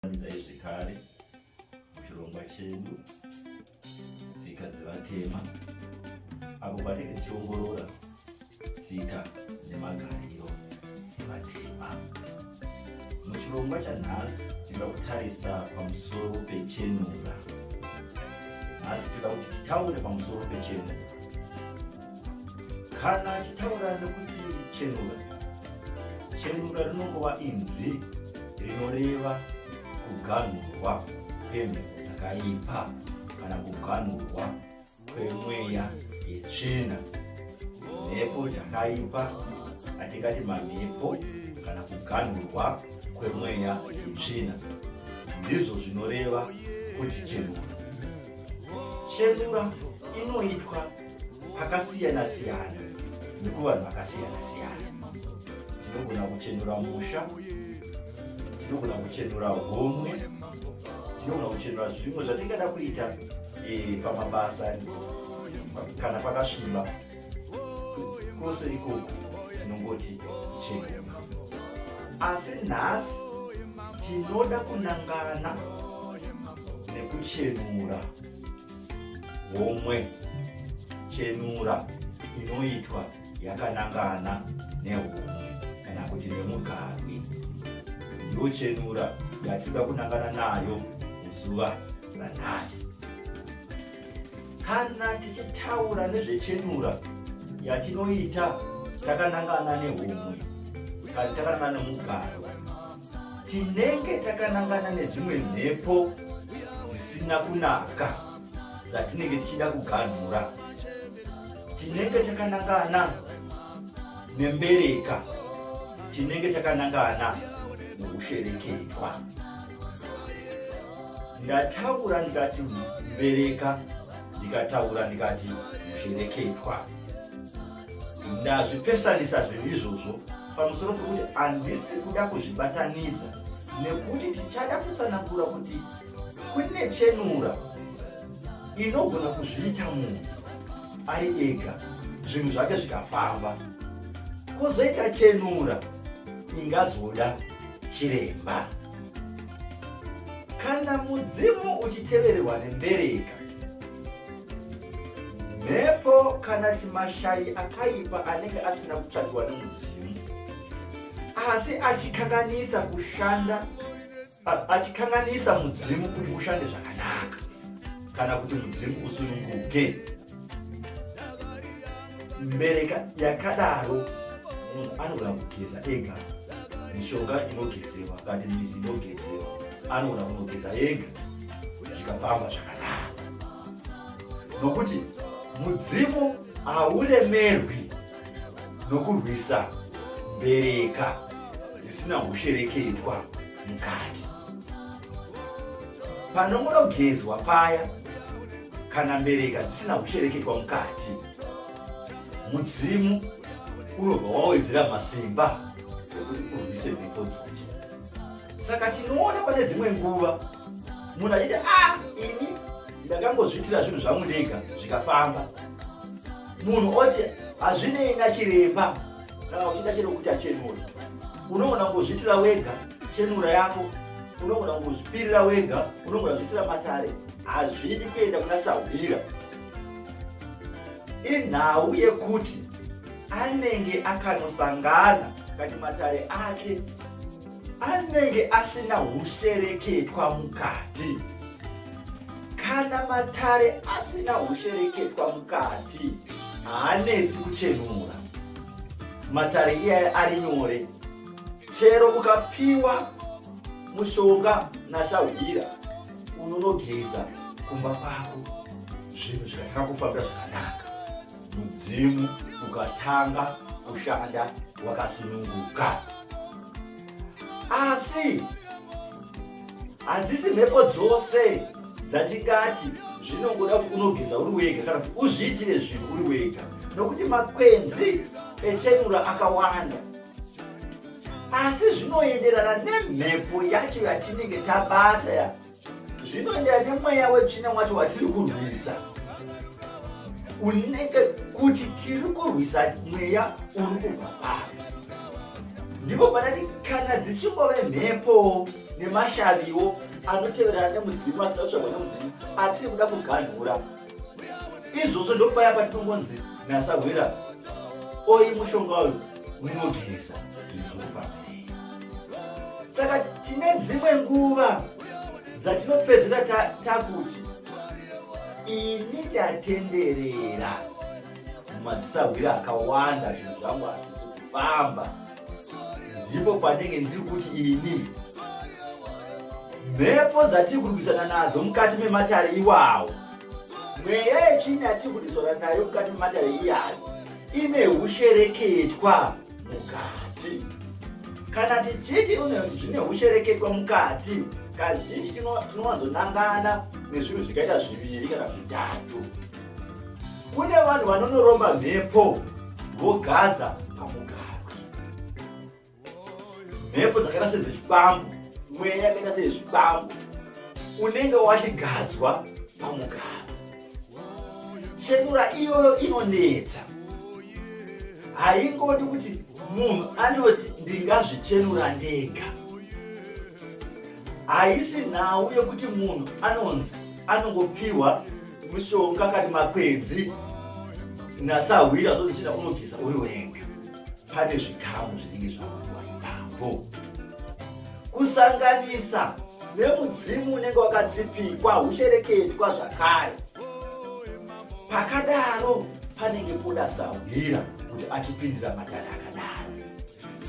Vanidzai zvekare muchirongwa chedu tsika dzevatema apo patinenge tichiongorora tsika nemagariro evatema. Muchirongwa chanhasi tinoda kutarisa pamusoro pechenura. Nhasi tinoda kuti titaure pamusoro pechenura. kana achitaura nekuti chenura chenura rinongova inzwi rinoreva kuganhurwa kwemhepo dzakaipa kana kuganhurwa kwemweya yetsvina mhepo dzakaipa atingati mamhepo kana kuganhurwa kwemweya yetsvina ndizvo zvinoreva kuti chenura chenura inoitwa akasiyana siyana nekuvanhu vakasiyana siyana tinogona kuchenura musha tinogona kuchenura homwe tinogona kuchenura zvimwe zvatingada kuita eh, pamabasa kana pakasviba kose ikoko tinongoti chenura asi nhasi tinoda kunangana nekuchenura homwe chenura inoitwa yakanangana nehomwe kana kuti nemugarwi ndiyo chenura yatinoda kunangana nayo muzuva ranhasi kana tichitaura nezvechenura yatinoita takanangana nehomwe kana takanangana nemugarwi tinenge takanangana nedzimwe mhepo dzisina kunaka dzatinenge tichida kuganhura tinenge takanangana nembereka tinenge takanangana nokushereketwa ndataura ndikati mbereka ndikataura ndikati mushereketwa ndazvipesanisa zvinhu izvozvo pamusoro pekuti handisi kuda kuzvibatanidza nekuti tichada kutsanangura kuti kune chenura inogona kuzviita munhu ari ega zvinhu zvake zvikafamba kozoita chenura ingazoda chiremba kana mudzimu uchitevererwa nembereka mhepo kana kuti mashayi akaipa anenge asina kutsvagiwa nemudzimu asi achikanganisa kushanda achikanganisa mudzimu kuti ushande zvakanaka kana kuti mudzimu usununguke mbereka yakadaro munhu anogona kugeza ega mishonga inogezewa kati mizi inogezewa anogona kunogeza ega zvikafamba zvakanaka nokuti mudzimu hauremerwi nokurwisa mbereka dzisina hushereketwa mukati panomunogezwa paya kana mbereka dzisina kushereketwa mukati mudzimu unobva wawedzera masimba ekuti urwise mhepo dzodzo saka tinoona pane dzimwe nguva munhu achiti a ah, ini ndakangozviitira zvinhu zvangu ndega zvikafamba munhu oti hazvinei nachiremba kana uchiita chero kuti achenura unogona kungozviitira wega chenura yako unogona kungozvipirira wega unogona kuzviitira matare hazvidi kuenda kuna sahwira inhau yekuti anenge akanosangana kati matare ake anenge asina hushereketwa mukati kana matare asina hushereketwa mukati haanetsi kuchenura matare iyayo ari nyore chero ukapiwa mushonga nasahwira unonogeza kumba kwako zvinhu zvikatanga kufambira zvakanaka mudzimu ukatanga kushanda wakasununguka asi hadzisi mhepo dzose dzatingati zvinongoda kuti unogeza uri wega kana kuti uzviitire zvinhu uri wega nokuti makwenzi echenura akawanda asi zvinoenderana nemhepo yacho yatinenge tabata zvinoenderana nemweya wetsvina wacho watiri kurwisa unenge kuti tiri kurwisa mweya uri kubva pari ndipo panati kana dzichingove mhepo nemashaviwo anoteverana nemudzimu asina kutsvagwa nemudzimu atiri kuda kuganhura izvozvo ndopaya patinongonzi nasahwira oyi mushonga uyu unogirisa saka tine dzimwe nguva dzatinopedzera takuti ini ndatenderera mumadzisahwira akawanda zvinhu zvangu hazvisi kufamba ndipo pandenge ndiri kuti ini mhepo dzatiri kurwisana nadzo mukati mematare iwawo mweya yechini yatiri kudisora nayo mukati mematare iyayo ine ushereketwa mukati kana tichiti zvine ushereketwa mukati kazhinji tinowanzonangana nezvinhu zvikaita zviviri kana zvitatu kune vanhu vanonoromba mhepo vogadza pamugarwi mhepo dzakaita sedzechibambo mweya yakaita sezvibambo unenge wachigadzwa pamugarwi chenura iyoyo inonetsa haingodi kuti munhu anoti ndingazvichenura ndega haisi nhau yekuti munhu anonzi anongopiwa mushonga kani makwenzi nasahwira zvozichida unogeza uri wega pane zvikamu zvinenge zvakuwa ipapo kusanganisa nemudzimu unenge wakadzipikwa ushereketwa zvakare pakadaro panenge poda sahwira kuti achipindira madhara akadaro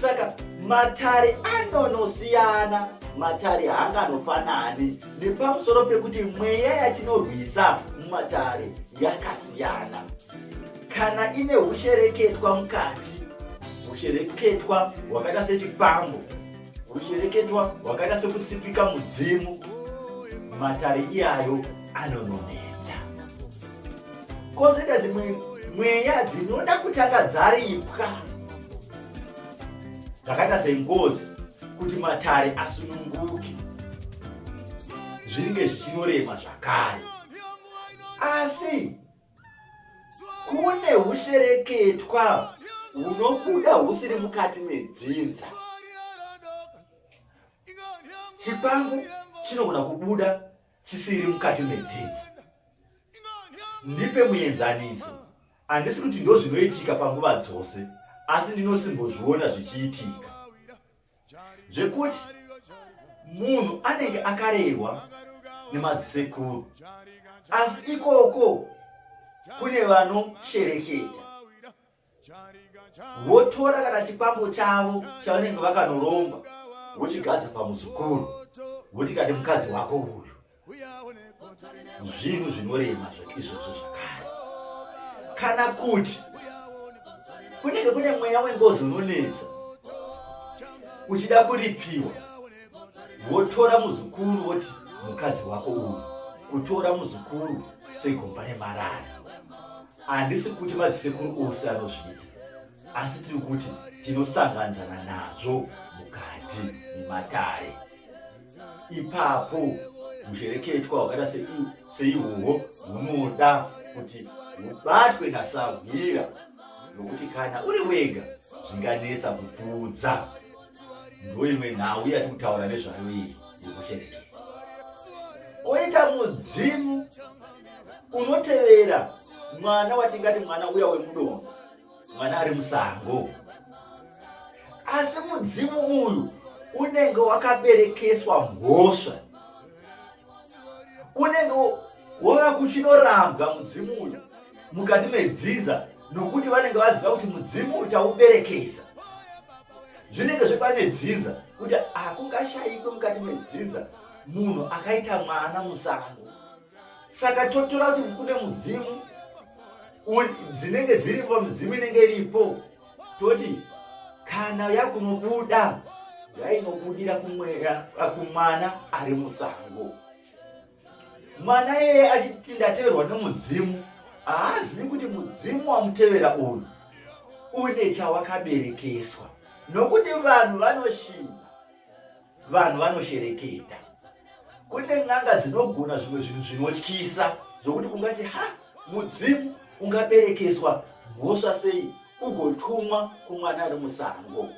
saka matare anonosiyana matare haanganofanani nepamusoro pekuti mweya yatinorwisa mumatare yakasiyana kana ine hushereketwa mukati hushereketwa hwakaita sechifambo hushereketwa hwakaita sekutsipika mudzimu matare iyayo anononera kozoita dzimwe mweya dzinoda kutanga dzaripwa dzakaita sengozi kuti matare asununguke zvinenge zvichinorema zvakare asi kune ushereketwa hunobuda husiri mukati medzinza chipangu chinogona kubuda chisiri mukati medzidzi ndipe muenzaniso handisi kuti ndozvinoitika panguva dzose asi ndinosimbozviona zvichiitika zvekuti munhu anenge akarerwa nemadzisekuru asi ikoko kune vanoshereketa votora kana chikwambo chavo chavanenge vakanoromba vochigadza pamuzukuru voti kati mukadzi wako uyu zvinhu zvinorema izvozvo zvakare kana kuti kunenge kune mweya wengozi unonetsa uchida kuripiwa votora muzukuru voti mukadzi wako uyu kutora muzukuru segomba remarara handisi kuti madzisekuru ose anozviita asi tiri kuti tinosanganzana nazvo mukati nematare ipapo mushereketwa hwakaita seihwohwo hunoda kuti hubatwe nasahwira nokuti kana uri wega zvinganetsa kupfuudza ndoimwe nhau yati kutaura nezvayo iyi yekuchereke oita mudzimu unotevera mwana watingati mwana uya wemudongo mwana ari musango asi mudzimu uyu unenge wakaberekeswa mhosva kunenge wava kuchinorambwa mudzimu uyu mukati medzinza nokuti vanenge vaziva kuti mudzimu uchauberekesa zvinenge zvepane dzinza kuti hakungashayikwe ah, mukati medzinza munhu akaita mwana musango saka totora kuti kune mudzimu dzinenge dziripo midzimu inenge iripo toti kana yakunobuda yainobudira kumwera kumwana ari musango mwana iyeye achiti ndateverwa nemudzimu haazivi kuti mudzimu wamutevera uyu une chawakaberekeswa nokuti vanhu vanoshinga vanhu vanoshereketa kune n'anga dzinogona zvimwe zvinhu zvinotyisa zvokuti ungati ha mudzimu ungaberekeswa mhosva sei ugotumwa kumwana ari musango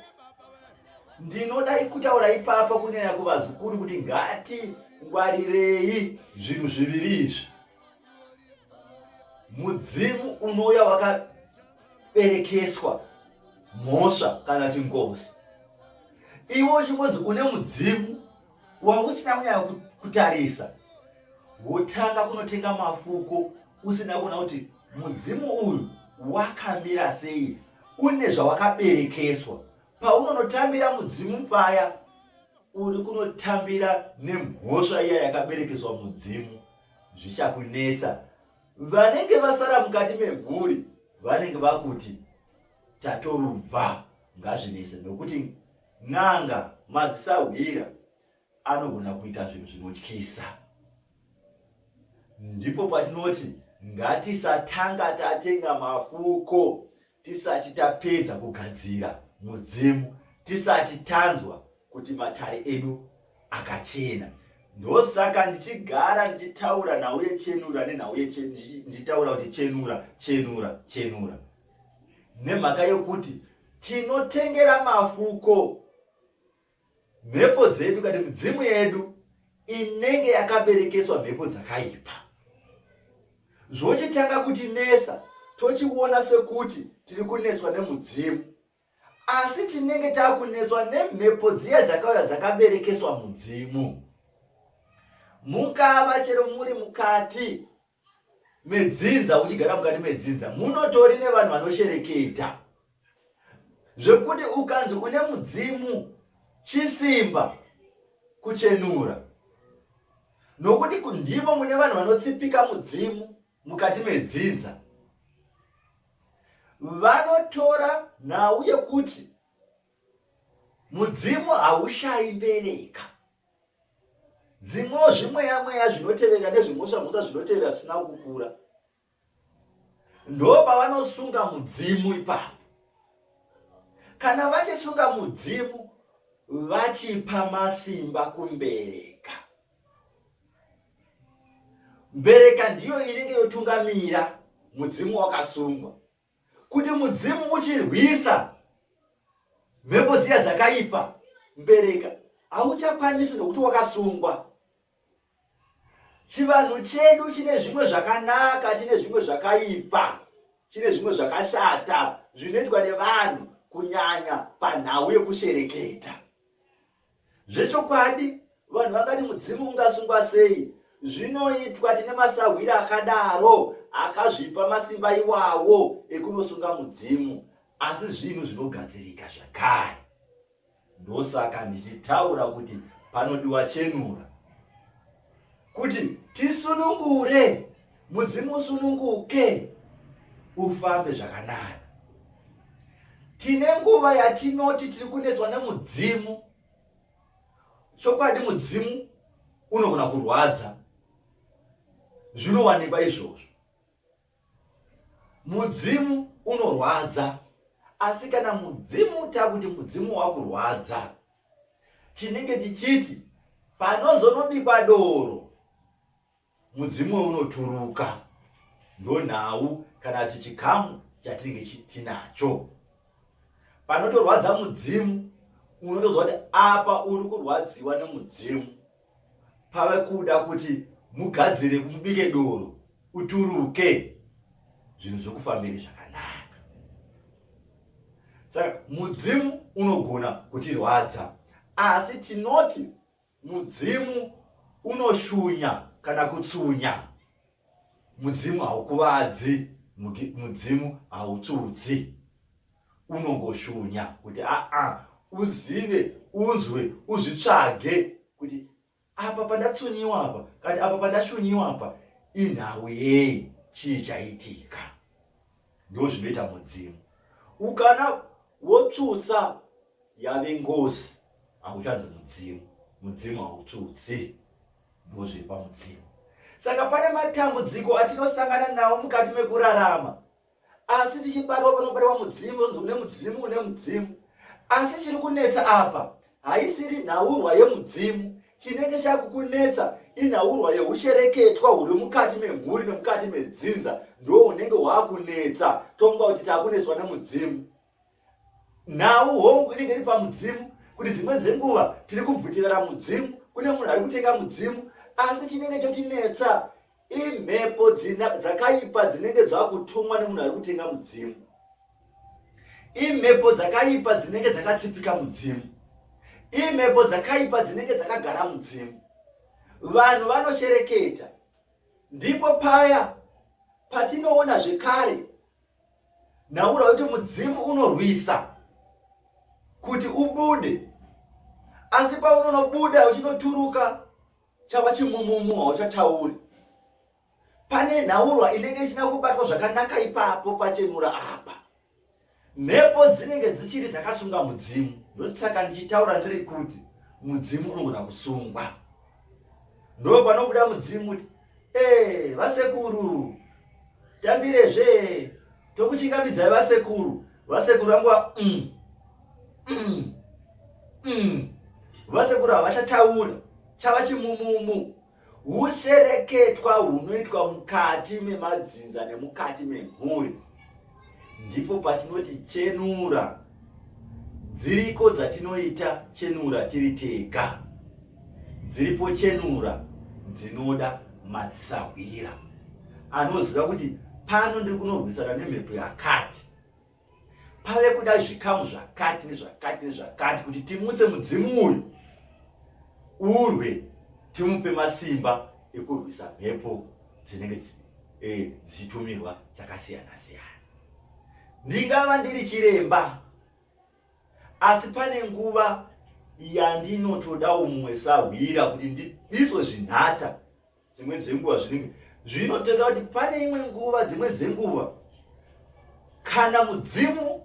ndinoda kutaura ipapa kunyanya kuvazukuru kuti ngati ngwarirei zvinhu zviviri izvi mudzimu unouya berekeswa mhosva kana kuti ngozi iwe uchingonzi une mudzimu wausina kunyaya kutarisa wotanga kunotenga mafuko usina kuona kuti mudzimu uyu wakamira sei une zvawakaberekeswa paunonotambira mudzimu paya uri kunotambira nemhosva iya yakaberekeswa mudzimu zvichakunetsa vanenge vasara mukati memhuri vanenge vakuti tatorubva ngazvinese nokuti n'anga madzisahwira anogona kuita zvinhu zvinotyisa ndipo patinoti ngatisatanga tatenga mafuko Tisati tapedza kugadzira mudzimu, tisati tanzwa kuti matare edu akachena. Ndosaka ndichigara ndichitaura nhau yechenura nenhau ndichitaura kuti chenura chenura chenura, nemhaka yokuti tinotengera mafuko mhepo dzedu kana midzimu yedu inenge yakaberekeswa mhepo dzakaipa zvochitanga kutinetsa tochiona sekuti tiri kunetswa nemudzimu asi tinenge takunetswa nemhepo dziya dzakauya dzakaberekeswa mudzimu mungava chero muri mukati medzinza uchigara mukati medzinza munotori nevanhu vanoshereketa zvekuti ukanzi une mudzimu chisimba kuchenura nokuti ndimo mune vanhu vanotsipika mudzimu mukati medzinza vanotora nhau yekuti mudzimu haushayi mbereka dzimwewo zvimweya mweya zvinotevera nezvimhosva mhosva zvinotevera zvisina kukura ndo pavanosunga mudzimu ipapo kana vachisunga mudzimu vachipa masimba kumbereka mbereka ndiyo inenge yotungamira mudzimu wakasungwa kuti mudzimu uchirwisa mhepo dziya dzakaipa mbereka hauchakwanisi nokuti wakasungwa chivanhu chedu chine zvimwe zvakanaka chine zvimwe zvakaipa chine zvimwe zvakashata zvinoitwa nevanhu kunyanya panhau yekushereketa Zvechokwadi vanhu vangati mudzimu ungasungwa sei? Zvinoitwa tine masahwiri akadaro akazvipa masimba iwawo ekunosunga mudzimu, asi zvinhu zvinogadzirika zvakare. Ndosaka ndichitaura kuti panodiwa chenura. kuti tisunungure mudzimu usununguke ufambe zvakanaka tine nguva yatinoti tiri kunetswa nemudzimu chokwadi mudzimu unogona kurwadza zvinowanikwa izvozvo Mudzimu unorwadza asi kana mudzimu takuti mudzimu wakurwadza chinenge chichiti panozonobikwa doro mudzimu unoturuka ndonhau kana kuti chikamu chatinenge tinacho panotorwadza mudzimu unotoziva kuti apa uri kurwadziwa nemudzimu pave kuda kuti mugadzire mubike doro uturuke zvinhu zvokufambiri zvakanaka saka mudzimu unogona kutirwadza asi tinoti mudzimu unoshunya kana kutsunya Mudzimu haukuvadzi, mudzimu hautsudzi. Unongoshunya kuti aa uzive, unzwe, uzvitsvage kuti apa pandatsunyiwa apa kana apa pandashunyiwa apa inhau yei chii chaitika ndozvinoita mudzimu ukana wotsutsa yave ngozi hauchanzi mudzimu mudzimu hautsutsi ndozvepa mudzimu saka pane matambudziko atinosangana nawo mukati mekurarama asi tichibatwa panobatwa mudzimu onzi une mudzimu une mudzimu asi chiri kunetsa apa haisiri nhaurwa yemudzimu chinenge chakukunetsa inhaurwa yeushereketwa huri mukati memhuri nemukati medzinza ndo unenge waakunetsa tonga kuti takunetswa nemudzimu nhau hongu inenge iri pamudzimu kuti dzimwe dzenguva tiri kubvutirana mudzimu kune munhu ari kutenga mudzimu asi chinenge chotinetsa imhepo dzakaipa dzinenge dzakutumwa nemunhu ari kutenga mudzimu imhepo dzakaipa dzinenge dzakatsipika mudzimu imhepo dzakaipa dzinenge dzakagara mudzimu vanhu vanoshereketa ndipo paya patinoona zvekare ndaura kuti mudzimu unorwisa kuti ubude asi paunonobuda uchinoturuka chava chimumumu hauchatauri pane nhaurwa inenge isina kubatwa zvakanaka ipapo pachenura apa mhepo dzinenge dzichiri dzakasunga mudzimu ndosaka ndichitaura ndiri kuti mudzimu unogona kusungwa ndo panobuda mudzimu kuti Ee, vasekuru, tambirezve, tokuchingamidzai vasekuru, vasekuru vangu va... Mm. Mm. Mm. Vasekuru havachataura, chava chimumumu. Hushereketwa hunoitwa mukati memadzinza nemukati memhuri. ndipo patinoti chenura dziriko dzatinoita chenura tiri tega dziripo chenura dzinoda madzisahwira anoziva kuti pano ndiri kunorwisana nemhepo yakati pave kuda zvikamu zvakati nezvakati nezvakati kuti timutse mudzimu uyu urwe timupe masimba ekurwisa mhepo dzinenge eh, dzichitumirwa e, dzakasiyana siyana ndingava ndiri chiremba asi pane nguva yandinotodawo mumwe sahwira kuti ndidiswe zvinhata dzimwe dzenguva zvinenge zvinoteka kuti pane imwe nguva dzimwe dzenguva kana mudzimu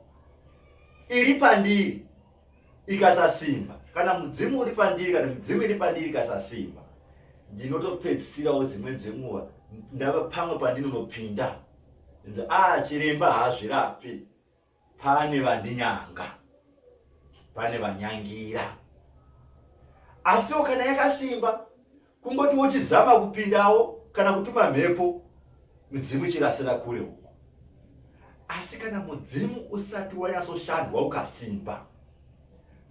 iri pandiri ikasasimba kana mudzimu uri pandiri kana midzimu iri pandiri ikasasimba ndinotopedzisirawo dzimwe dzenguva ndava pamwe pandinonopinda nzi a ah, chiremba haazvirapi pane vandinyanga pane vanyangira asiwo kana yakasimba kungoti wochizama kupindawo kana kutuma mhepo mudzimu ichirasira kure uko asi kana mudzimu usati wanyasoshandwa ukasimba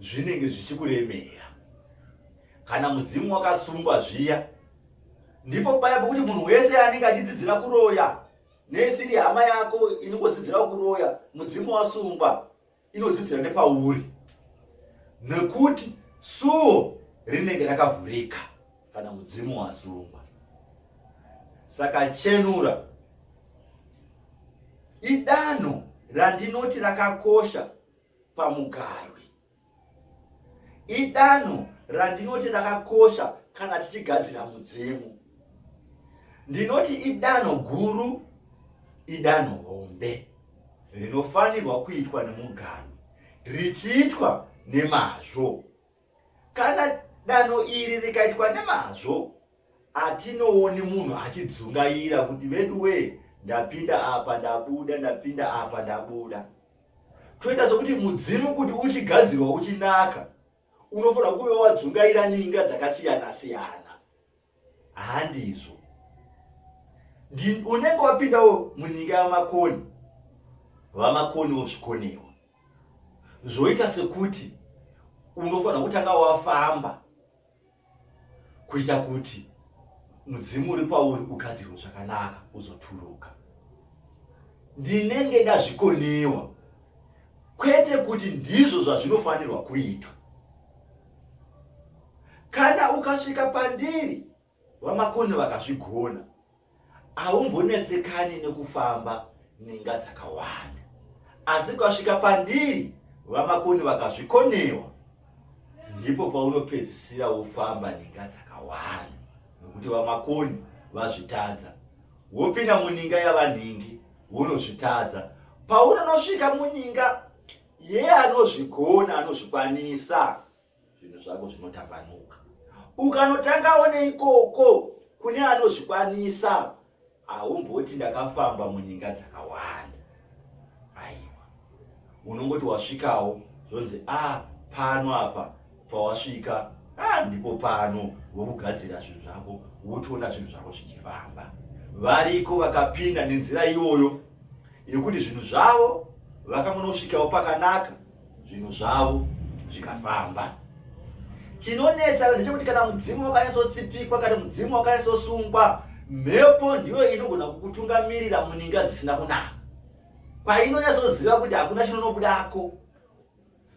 zvinenge zvichikuremera kana mudzimu wakasungwa zviya ndipo paya pokuti munhu wese anenge achidzidzira kuroya nesiri hama yako inongodzidzirawo kuroya mudzimu wasungwa inodzidzira nepauri nekuti suo rinenge rakavhurika kana mudzimu wasungwa saka chenura idanho randinoti rakakosha pamugarwi idanho randinoti rakakosha kana tichigadzira mudzimu ndinoti idanho guru idanho hombe rinofanirwa kuitwa nemuganhu richiitwa nemazvo kana danho iri rikaitwa nemazvo atinooni munhu achidzungaira kuti vedu wee ndapinda apa ndabuda ndapinda apa ndabuda toita zvokuti mudzimu kuti uchigadzirwa uchinaka unofanira kuve wadzungaira ninga dzakasiyana siyana handizvo unenge wapindawo munyika yamakoni vamakoni vosvikonewa zvoita sekuti unofanira kutanga wafamba kuita kuti mudzimu uri pauri ugadzirwe zvakanaka uzoturuka ndinenge ndazvikonewa kwete kuti ndizvo zvazvinofanirwa kuitwa kana ukasvika pandiri vamakoni vakazvigona haumbonetsekani nekufamba ninga dzakawanda asi ukasvika pandiri vamakoni vakazvikonewa ndipo paunopedzisira wofamba ninga dzakawanda nokuti vamakoni vazvitadza wopinda muninga yavanhingi wonozvitadza paunonosvika muninga Iye anozvigona anozvikwanisa, zvinhu zvako zvinotambanuka. Ukanotangawo neikoko kune anozvikwanisa, haumboti ndakafamba munyika dzakawanda. Aiwa, unongoti wasvikawo zvonzi a ah, pano apa pawasvika ah, ndipo pano wokugadzira zvinhu zvako wotoona zvinhu zvako zvichifamba variko vakapinda nenzira iyoyo yekuti zvinhu zvavo vakangonosvikawo pakanaka zvinhu zvavo zvikafamba chinonetsa ndechekuti kana mudzimu wakanyasotsipikwa kana mudzimu wakanyasosungwa mhepo ndiyo inogona kukutungamirira muninga dzisina kunaka painonyasoziva kuti hakuna chinonobudako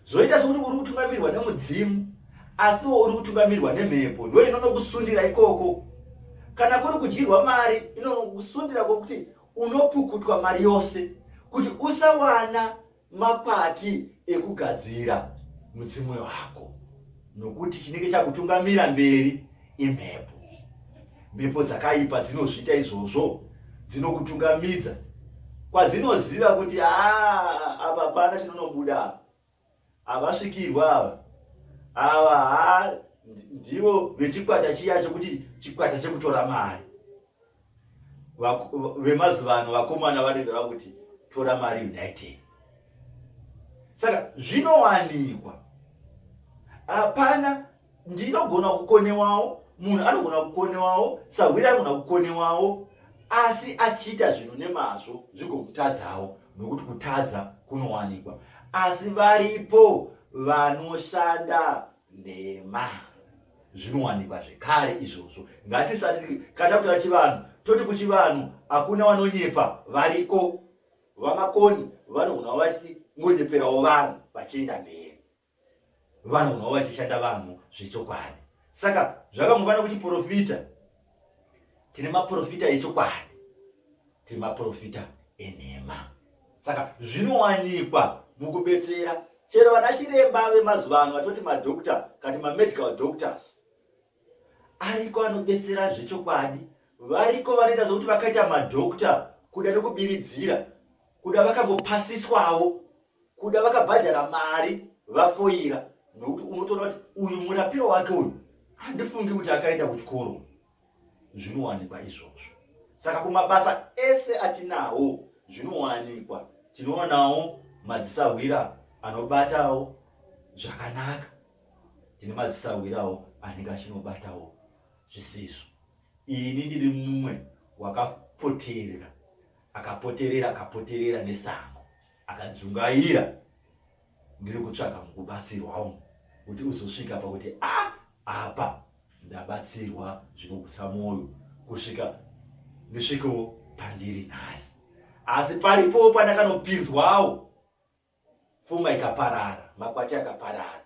zvoita sokuti uri kutungamirirwa nemudzimu asiwo uri kutungamirirwa nemhepo ndo inonokusundira ikoko kana kuri kudyirwa mari inonokusundira kwokuti unopukutwa mari yose kuti usawana makwati ekugadzira mudzimu wako nokuti chinenge chakutungamira mberi imhepo mhepo dzakaipa dzinozviita izvozvo dzinokutungamidza kwadzinoziva kuti haa apa hapana chinonobuda apa havasvikirwa ava ava ha ndivo vechikwata chiya chekuti chikwata chekutora mari vemazuva ano vakomana vanenge vakuti tora mari united saka zvinowanikwa hapana ndinogona kukonewawo munhu anogona kukonewawo sahwiri anogona kukonewawo asi achiita zvinhu nemazvo zvigokutadzawo nokuti kutadza kunowanikwa asi varipo vanoshanda nhema zvinowanikwa zvekare izvozvo ngatisati kana kutaura chivanhu toti kuchivanhu hakuna vanonyepa variko vamakoni vanogonawo vachingonyeperawo vanhu vachienda mberi vanogonawo vachishanda vanhu zvechokwadi saka zvakambofanira kuchiprofita tine maprofita echokwadi tine maprofita enhema saka zvinowanikwa mukubetsera chero vana chiremba vemazuva ano vatoti madoctor kati mamedical doctors ariko anobetsera zvechokwadi variko vanoita zvokuti vakaita madoctor kuda nekubiridzira kuda vakangopasiswawo kuda vakabhadhara mari vafoira nokuti unotoona kuti uyu murapiro wake uyu handifungi kuti akaenda kuchikoro zvinowanikwa izvozvo saka kumabasa ese atinawo zvinowanikwa tinoonawo madzisahwira anobatawo zvakanaka tine madzisahwirawo anenge achinobatawo zvisizvo ini ndiri mumwe wakapoterera akapoterera akapoterera nesango akadzungaira ndiri kutsvaga mukubatsirwa umu kuti uzosvika pakuti a ah, apa ndabatsirwa zvinogutsa mwoyo kusvika ndisvikewo pandiri nhasi asi paripo pandakanopinzwawo funga ikaparara makwati akaparara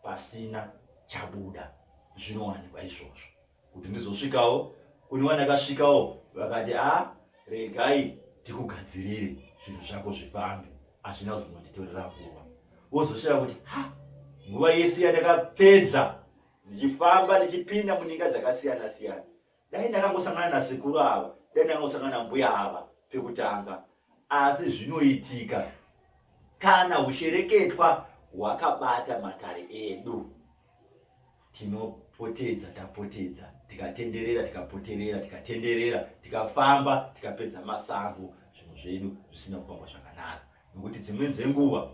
pasina chabuda zvinowanikwa izvozvo kuti ndizosvikawo kune wandakasvikawo vakati a ah, regai tikugadzirire zvinhu zvako zvifambe hazvina kuzononditorera nguva wozoshaya kuti ha nguva yese yandakapedza ndichifamba ndichipinda muninga dzakasiyana siyana dai ndakangosangana nasekuru ava dai ndakangosangana mbuya ava pekutanga asi zvinoitika kana ushereketwa hwakabata matare edu Tinopotedza, tapotedza, tikatenderera, tikapoterera, tikatenderera, tikafamba, tikapedza masango, zvinhu zvedu zvisina kufamba zvakanaka. Nokuti dzimweni dzenguva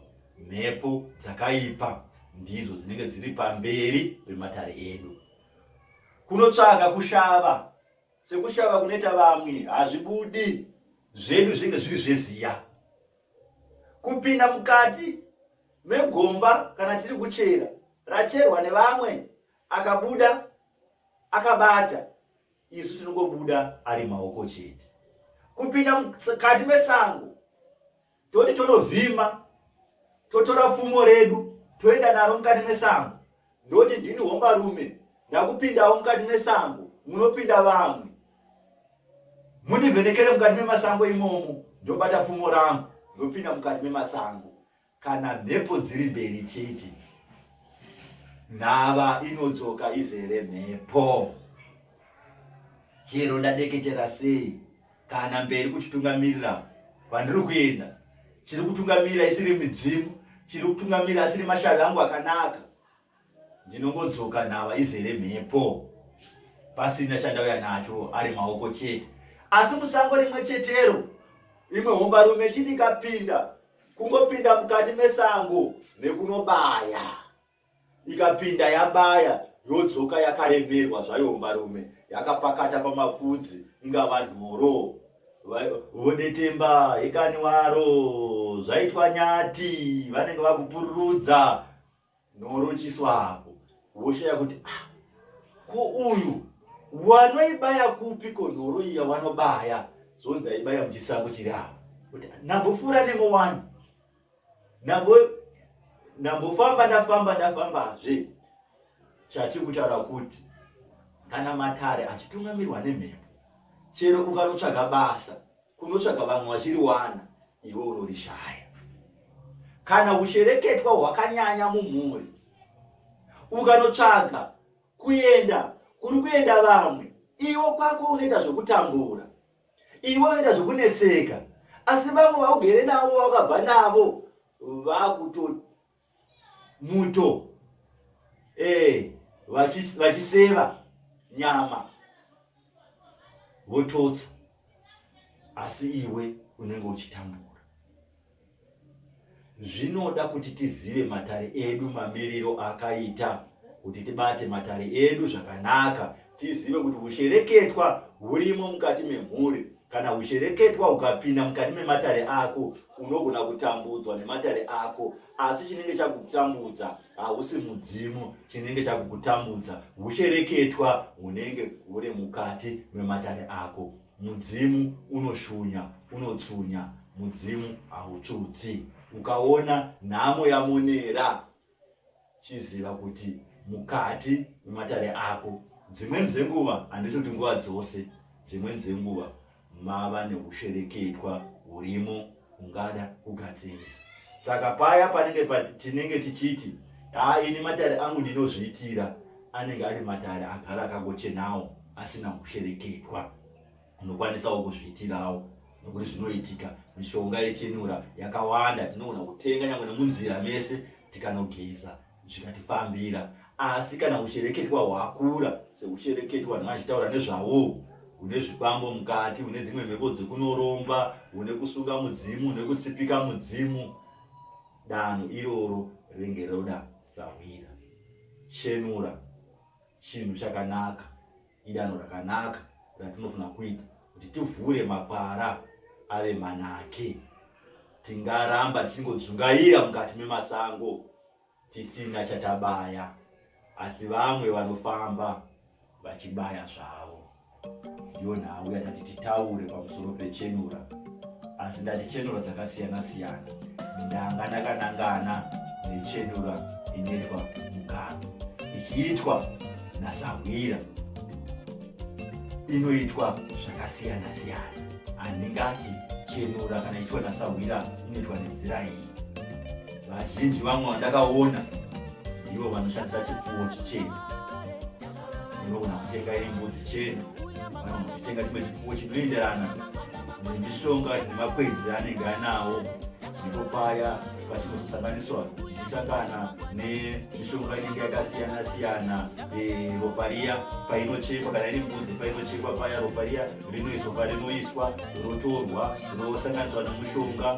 mhepo dzakaipa ndidzo dzinenge dziri pamberi pematare edu. Kunotsvaga kushava, sekushava kunoita vamwe, hazvibudi zvedu zvinenge zviri zveziya. kupinda mukati megomba kana tiri kuchera racherwa nevamwe akabuda akabata isu tinongobuda ari maoko chete kupinda mukati mesango toti tonovhima totora pfumo redu toenda naro mukati mesango ndoti ndini hombarume ndakupindawo mukati mesango munopinda vamwe mundivhenekere mukati memasango imomo ndobata pfumo rangu ndopinda mukati memasango kana mhepo dziri mberi chete nhava inodzoka izere mhepo chero ndadeketera sei kana mberi kuchitungamirira kwandiri kuenda chiri kutungamirira isiri midzimu chiri kutungamirira asiri mashavi angu akanaka ndinongodzoka nhava izere mhepo pasina chandauya nacho ari maoko chete asi musango rimwe chetero imwe hombarume ichiti ikapinda kungopinda mukati mesango nekunobaya ikapinda yabaya yodzoka yakaremerwa zvayo mbarume yakapakata pamafudzi inga vanhu moroo vodetemba ikani waro zvaitwa nyati vanenge vakupururudza norochiswa apo woshaya kuti ah, ko uyu wanoibaya kupi ko nhoro iya wanobaya zvonzi aibaya muchisango chiri apo kuti nambopfuura nemowani ndambofamba ndafamba ndafambazve chati kutaura kuti kana matare achitungamirwa nemhepo chero ukanotsvaga basa kunotsvaga vamwe vachiriwana iwe unorishaya kana ushereketwa hwakanyanya mumhuri ukanotsvaga kuenda kuri kuenda vamwe iwo kwako unoita zvekutambura iwe unoita zvekunetseka asi vamwe vaugere navo vakabva navo vakuto muto ee eh, vachiseva nyama vototsa asi iwe unenge uchitambura zvinoda kuti tizive matare edu mamiriro akaita kuti tibate matare edu zvakanaka tizive kuti ushereketwa hurimo mukati memhuri kana ushereketwa ukapinda mukati mematare ako unogona kutambudzwa nematare ako asi chinenge chakutambudza hausi mudzimu chinenge chakukutambudza ushereketwa hunenge huri mukati mematare ako Mudzimu unoshunya, unotsunya, mudzimu hautsutsi. Ukaona nhamo yamonera, chiziva kuti mukati mematare ako, dzimweni dzenguva, handisi kuti nguva dzose, dzimweni dzenguva mava neushereketwa hurimo. ungada kugadzirisa saka paya panenge pa, tinenge tichiti haa ini matare angu ndinozviitira anenge ari matare agara akangochenawo asina kushereketwa unokwanisawo kuzviitirawo nokuti zvinoitika mishonga yechenura yakawanda tinogona kutenga nyangwe nemunzira mese tikanogeza zvikatifambira asi kana ushereketwa hwakura seushereketwa vanhu vachitaura nezvavo une zvikwambo mukati une dzimwe mhepo dzekunoromba une kusunga mudzimu une kutsipika mudzimu danho iroro renge roda sahwira chenura chinhu chakanaka Idanho rakanaka ratinofanira kuita kuti tivhure makwara ave manake. Tingaramba tichingodzungaira mukati memasango tisina chatabaya, asi vamwe vanofamba vachibaya zvavo. Ndiyo nhau yatati titaure pamusoro pechenura asi ndati chenura dzakasiyana siyana ndanga ndakanangana nechenura inoitwa mugano ichiitwa nasahwira inoitwa zvakasiyana siyana handingati chenura kana ichiitwa nasahwira inoitwa nenzira iyi vazhinji vamwe vandakaona ivo vanoshandisa chipfuwo chichena unogona kutenga iri mbudzi chena kana kutenga chimwe chifuwo chinoenderana nemishonga nemakwenzi anenge anawo ndipo paya pachinozosanganiswa zvichasangana nemishonga inenge yakasiyana siyana eh, ropa riya painochekwa kana iri mbudzi painochekwa paya ropa riya rinoizwa parinoiswa rotorwa rosanganiswa nemushonga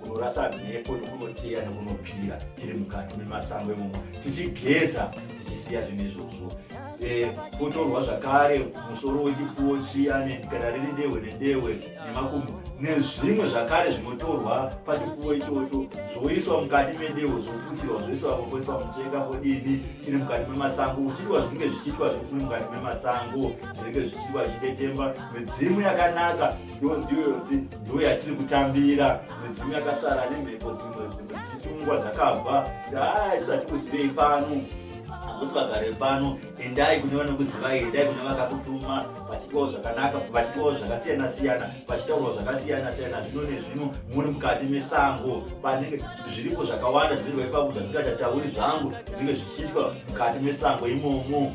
kunorasa mhepo nekunoteya nekunopira tiri mukati memasango imomo tichigeza tichisiya zvinhu izvozvo eh, kutorwa zvakare musoro wechipfuwo chiya kana riri dehwe nedehwe nemakumbo nezvimwe zvakare zvinotorwa pachipfuwo ichocho zvoiswa mukati medehwe zvoputirwa zvoiswa vokoiswa muchenga vodini tiri mukati memasango uchiitwa zvinenge zvichiitwa zvekuri mukati memasango zvinenge zvichiitwa zvichidetemba midzimu yakanaka Don't do your thing. Ndiwe yatiri kutambira midzimu yakasara nemhepo dzimwe dzimwe dzichitungwa dzakabva dai tisati kuzivei pano hakusi vagare pano endai kune vanokuzivai endai kune vakakutuma vachitawo zvakanaka vachitawo zvakasiyana siyana vachitaurwa zvakasiyana siyana zvino nezvino muri mukati mesango panenge zviripo zvakawanda zvinenge zvaipakuda zvisingachatauri zvangu zvinenge zvichiitwa mukati mesango imomo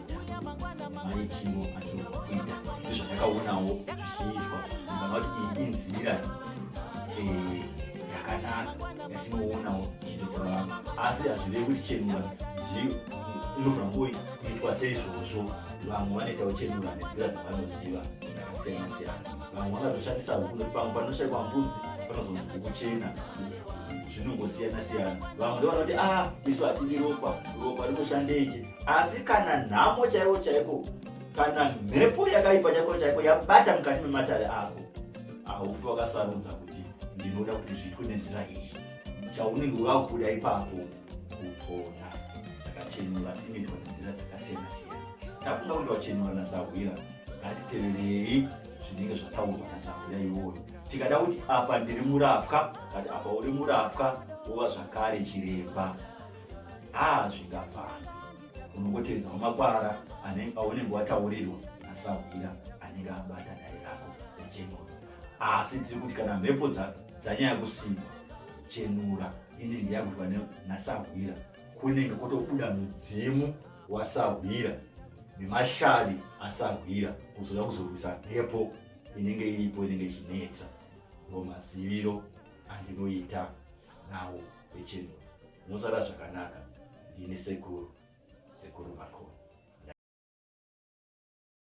chimo zvandakaonawo zvichiitwa ndangati iyi inzira eh, yakanaka yatinoonawo ichidetsera vanhu asi hazvive kuti chenura inofanira kuitwa seizvozvo vamwe vanoita kuchenura nenzira dzavanoziva dzakasiyana siyana vamwe vangatoshandisa hukuno pamwe panoshaikwa mbudzi panozonzi kuchena zvinongosiyana siyana vamwe ndovana kuti a ah, isu hatidi ropa ropa rinoshandeje asi kana nhamo chaivo chaiko kana mhepo yakaipa chaiko chaiko yabata mukati mematare ako haufi wakasarudza kuti ndinoda kuti zviitwe nenzira iyi chaunenge wakuda ipapo kupona takachenura inoitwa nenzira dzakasiyana siyana tafunga kuti wachenura nasahwira ngatiteverei zvinenge zvataurwa nasahwira iwoyo tikada kuti apa ndiri murapwa kati apa uri murapwa wova zvakare chiremba haa zvingafani unongoteedza mumakwara aunenge wataurirwa asahwira anenge abata dare rako rechenura asi tiri kuti kana mhepo dzanyaya kusimba chenura inenge yagurwa nasahwira kunenge kwotobuda mudzimu wasahwira nemashari asahwira kuzoda kuzorwisa mhepo inenge iripo inenge ichinetsa ndo maziviro andinoita nawo vechinhu mosara zvakanaka ndini sekuru sekuru vako